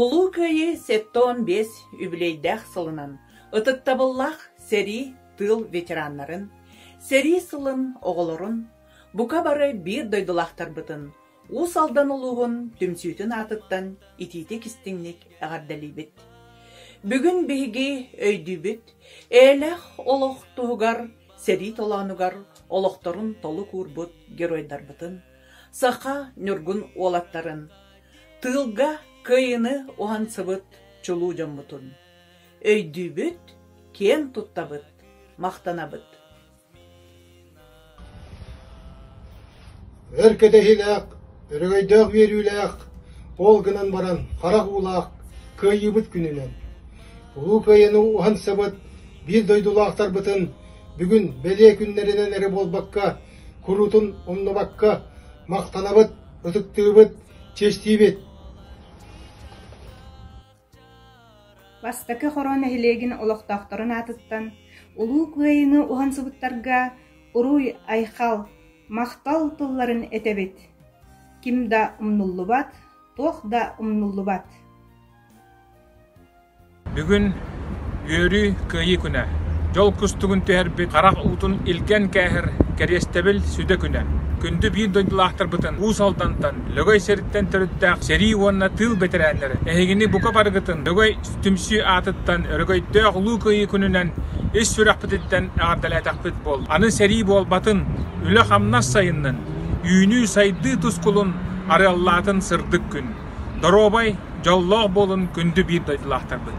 Улуу Кыайыы сэттэ уон биэс үбүлүөйдээх сылынан ытыктабыллаах сэрии тыыл ветераннарын, сэрии сылын оҕолорун, бука бары биир дойдулаахтарбытын Уус Алдан улууһун түмсүүтүн аатыттан итиитик-истиҥник эҕэрдэлиибит! Бүгүн биһиги өйдүүбүт, эйэлээх олох туһугар, сэрии толоонугар олохторун толук уурбут геройдарбытын, саха ньургун уолаттарын, тыылга кыайыыны уһансыбыт чулуу дьоммутун өйдүүбүт, киэн туттабыт, махтанабыт. Өр кэтэһиилээх, өрөгөйдөөх үөрүүлээх ол гынан баран харах уулаах кыайыыбыт күнүнэн, Улуу Кыайыыны уһансыбыт биир дойдулаахтарбытын бүгүн бэлиэ күннэринэн эрэ буолбакка, куруутун умнубакка махтанабыт, ытыктыыбыт, чэстиибит! Бастакы хоруо нэһилиэгин олохтоохторун аатыттан Улуу Кыайыыны уһансыбыттарга уруй-айхал, махтал тылларын этэбит, ким да умнуллубат, туох да умнуллубат Бүгүн Үөрүү Кыайыы күнэ. Дьол кустугун түһэрбит харах уутун илгэн кээһэр кэриэстэбил сүдэ күнэ. Күндү биир дойдулаахтарбытын Уус Алдантан Лөгөй сириттэн төрүттээх сэрии уонна тыыл бэтэрээннэрэ эһигини бука барыгытын Лөгөй түмсүү аатыттан өрөгөйдөөх Улуу Кыайыы күнүнэн ис сүрэхпититтэн эҕэрдэлээтэхпит буол. Аны сэрии буолбатын, үлэ-хамнас сайыннын, үүнүү-сайдыы тускулун арыаллаатын сырдык күн. Доруобай, дьоллоох буолун күндү биир дойдулаахтарбыт.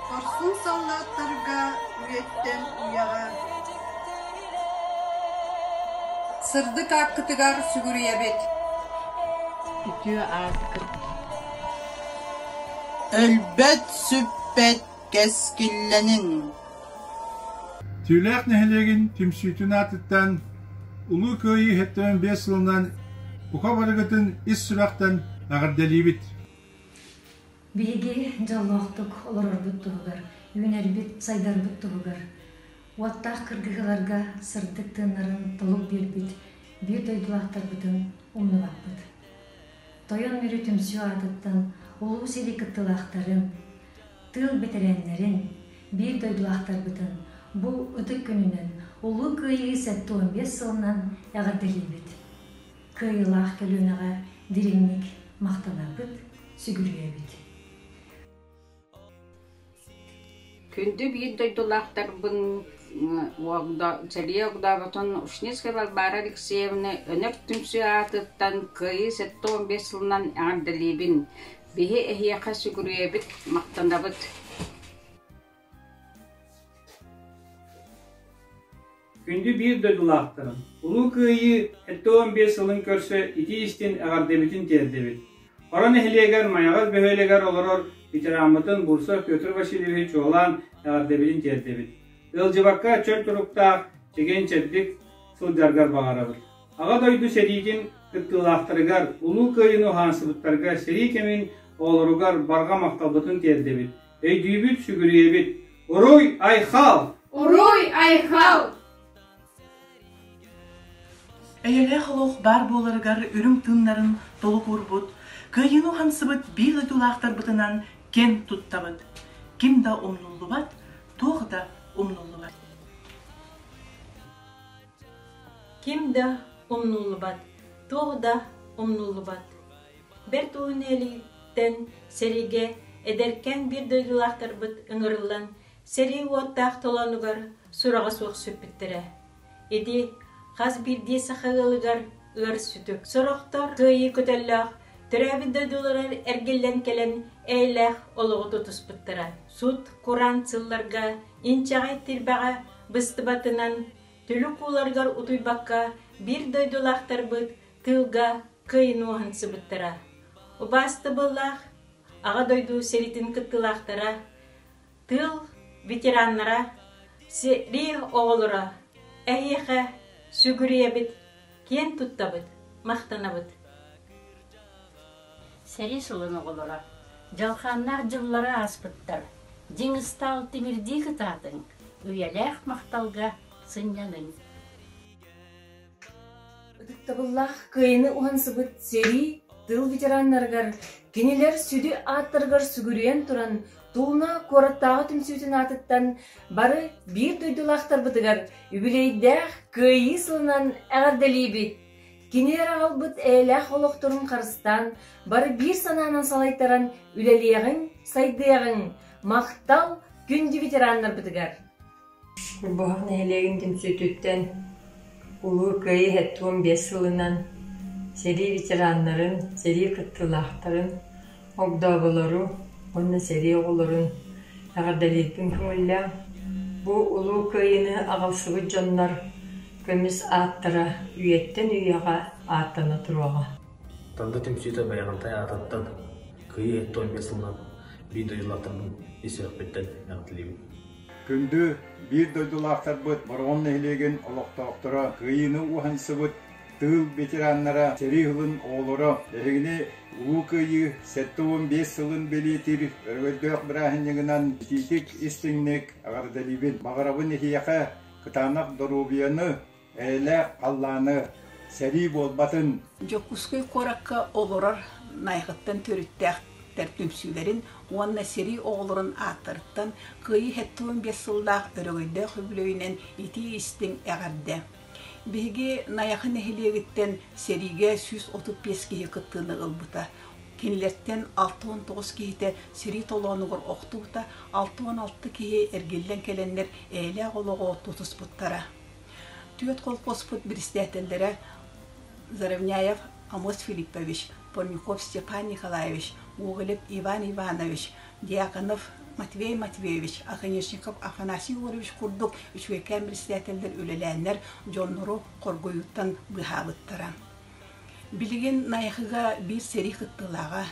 Хорсун саллааттарга үйэттэн үйэҕэ Сырдык ааккытыгар сүгүрүйэбит Үтүө ааскыт Өлбөт сүппэт кэскиллэнин Түүлээх нэһилиэгин түмсүүтүн аатыттан Улуу Кыайыы иһиттэн биэс сылынан бука барыгытын ис сүрэхтэн эҕэрдэлиибит Биһиги дьоллоохтук олорорбут туһугар, үүнэрбит-сайдарбыт туһугар, уоттаах кыргыһыыларга сырдык тыыннарын толук биэрбит биир дойдулаахтарбытын умнубаппыт. Тойон Мүрү түмсүү аатыттан Улуу сэрии кыттыылаахтарын, тыыл бэтэрээннэрин, биир дойдулаахтарбытын бу ытык күнүнэн Улуу Кыайыы сэттэ уон биэс сылынан эҕэрдэлиибит! кыайыылаах көлүөнэҕэ дириҥник махтанарбыт сүгүрүйэ эбит. Күндү биир дойдулаахтарбын сэлии огдообутун Ушницкай Варвара Алексеевна өнөр түмсүү аатыттан кыайыы сэттэ уон биэс сылынан эҕэрдэлиибин. Биһи эһиэхэ сүгүрүйэбит, махтанабыт. Күндү биир дойдулаахтарым! Улуу Кыайыы сэттэ уон биэс сылын көрсө итии-истин эҕэрдэбитин тиэрдэбит! Хоро нэһилиэгэр Майаҕас бөһүөлэгэр олорор ветераммытын Бурсов Петр Васильевич чуолаан эҕэрдэбитин тиэрдэбит! Ыалдьыбакка чөл туруктаах, чэгиэн-чэбдик сылдьаргар баҕарабыт! Аҕа дойду сэриитин кыттыылаахтарыгар, Улуу Кыайыыны уһаансыбыттарга сэрии кэмин оҕолоругар барҕа махталбытын тиэрдэбит! Өйдүүбүт, сүгүрүйэбит. Уруй, айхал! Уруй, айхал! Эйэлээх олох баар буоларыгар үрүҥ тыыннарын толук уурбут, кыайыыны хамсыбыт биир дойдулаахтарбытынан кэн туттабыт. Ким да умнуллубат, туох да умнуллубат. Ким да умнуллубат, туох да умнуллубат. Бэрт Уһун Илииттэн сэриигэ эдэркээн биир дойдулаахтарбыт ыҥырыллан сэрии-уоттаах толоонугар сураҕа суох сүппүттэрэ. Ити хас биирдии саха ыалыгар ыар-сүтүк. Сорохтор кыайыы көтөллөөх, төрөөбүт дойдулара эргиллэн кэлэн эйэлээх олоҕу тутуспуттара. Сут-кураан сылларга инчэҕэй тирбэҕэ быстыбатынан Түлүк ууларыгар утуйбакка биир дойдулаахтарбыт тыылга кыайынуоһан сыбыттара. Убаастабыллаах Аҕа дойду сэриитин кыттыылаахтара, тыыл ветераннара, сэрии оҕолоро, эһиэхэ сүгүрүйэбит киэн туттабыт, махтанабыт! Сэрии сылын оҕолоро дьалхааннаах дьыллары ааспыттар, дьиҥ ыстаал тимирдии кытаатыҥ, үйэлээх махталга сынньаныҥ! Ытыктабыллаах кыайыны уһансыбыт сэрии тыыл ветераннарыгар, кинилэр сүдү ааттарыгар сүгүрүйэн туран Тууна куораттааҕы түмсүүтүн аатыттан бары биир дойдулаахтарбытыгар үбүлүөйдээх Кыайыы сылынан эҕэрдэлиибит! Кини аҕалбыт эйэлээх олохторун харыстаан, бары биир санаанан салайтаран үлэлиэҕиҥ, сайдыаҕыҥ! Махтал күндү ветераннарбытыгар! Чорбоһох нэһилиэгин түмсүүтүттэн Улуу Кыайыы ХІІ биэс сылынан сэрии ветераннарын, сэрии кыттыылаахтарын, огдооболору уонна сэрии оҕолорун эҕэрдэлиирбин көҥүллээн, бу Улуу Кыайыыны аҕалсыбыт дьоннор көмүс ааттара үйэттэн үйэҕэ ааттана туруоҕа. Танда түмсүүтэ байаҕантай аатыттан Кыайыы ХІІ биэс сылынан биир дойдулаахтарбын ис сүрэхпиттэн эҕэрдэлиибин. Күндү биир дойдулаахтарбыт Бороҕон нэһилиэгин олохтоохторо кыайыыны уһансыбыт тыыл ветераннара, сэрии сылын оҕолоро, биһигини Улуу Кыайыы сэттэ уон биэс сылын бэлиэтиир өрөгөйдөөх бырааһынньыгынан итиитик-истиҥник эҕэрдэлиибин! Баҕарабын эһиэхэ кытаанах доруобуйаны, Эйэлээх халлааны сэрии буолбатын! Дьокуускай куоракка олорор Найахыттан төрүттээхтэр түмсүүлэрин уонна сэрии оҕолорун ааттарыттан Кыайыы сэттэ уон биэс сыллаах өрөгөйдөөх үбүлүөйүнэн итии-истиҥ эҕэрдэ! Биһиги Найахы нэһилиэгиттэн сэриигэ сүүс отут биэс киһи кыттыыны ылбыта. Кинилэртэн алта уон тоҕус киһитэ сэрии толоонугар охтубута, алта уон алта киһи эргиллэн кэлэннэр эйэлээх олоҕу тутуспуттара. Түөрт колхозпут председателлэрэ Заровняев Амос Филиппович, Порнюхов Степан Николаевич, Гоголев Иван Иванович, Дьяконов Матвей Матвеевич, Оконешников Афанасий Егорович курдук үчүгэйкээн председателлэр үлэлээннэр дьоннору хоргуйууттан быыһаабыттара. Билигин Найахыга биир сэрии кыттыылааҕа,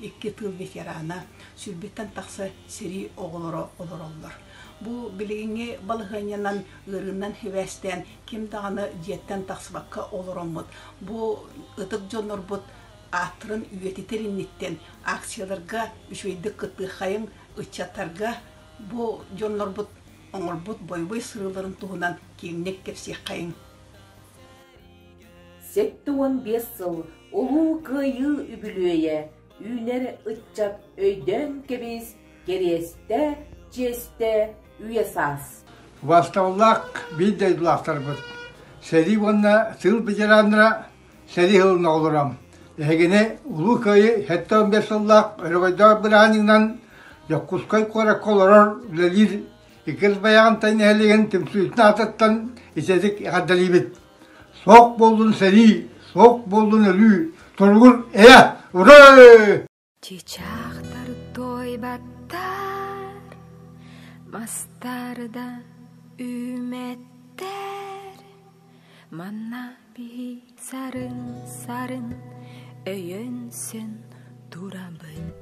икки тыыл ветерана, сүүрбүттэн тахса сэрии оҕолоро олороллор. Бу билигиҥҥи балаһыанньанан ыарыыннан сибээстээн ким даҕаны дьиэттэн тахсыбакка олороммут, бу ытык дьоннорбут ааттарын үйэтитэр инниттэн акцияларга үчүгэйдик кыттыаххайыҥ, ыччаттарга бу дьоннорбут оҥорбут бойобуй сырыыларын туһунан киэҥник кэпсиэххэйиҥ. Сэттэ уон биэс сыл Улуу Кыайыы үбүлүөйэ үүнэр ыччат өйдөөн кэбис, кэриэстэ, чиэстэ, үйэ-саас Убаастабыллаах биир дойдулаахтарбыт! Сэрии уонна тыыл ветераннара сэрии сылын оҕолоро! Эһигини Улуу Кыайыы сэттэ уон биэс сыллаах өрөгөйдөөх бырааһынньыгынан Дьокуускай куоракка олорор үлэлиир Иккис байаҕынтай нэһилиэгин түмсүүтүн аатыттан ичэдик эҕэрдэлиибит. Суох буоллун сэрии, суох буоллун өлүү, туругун эйэ, урай! Чычахтар туойбаттар, мастарда үүмэттэр, манна биһи сарын-сарын өйөнсүн турабыт.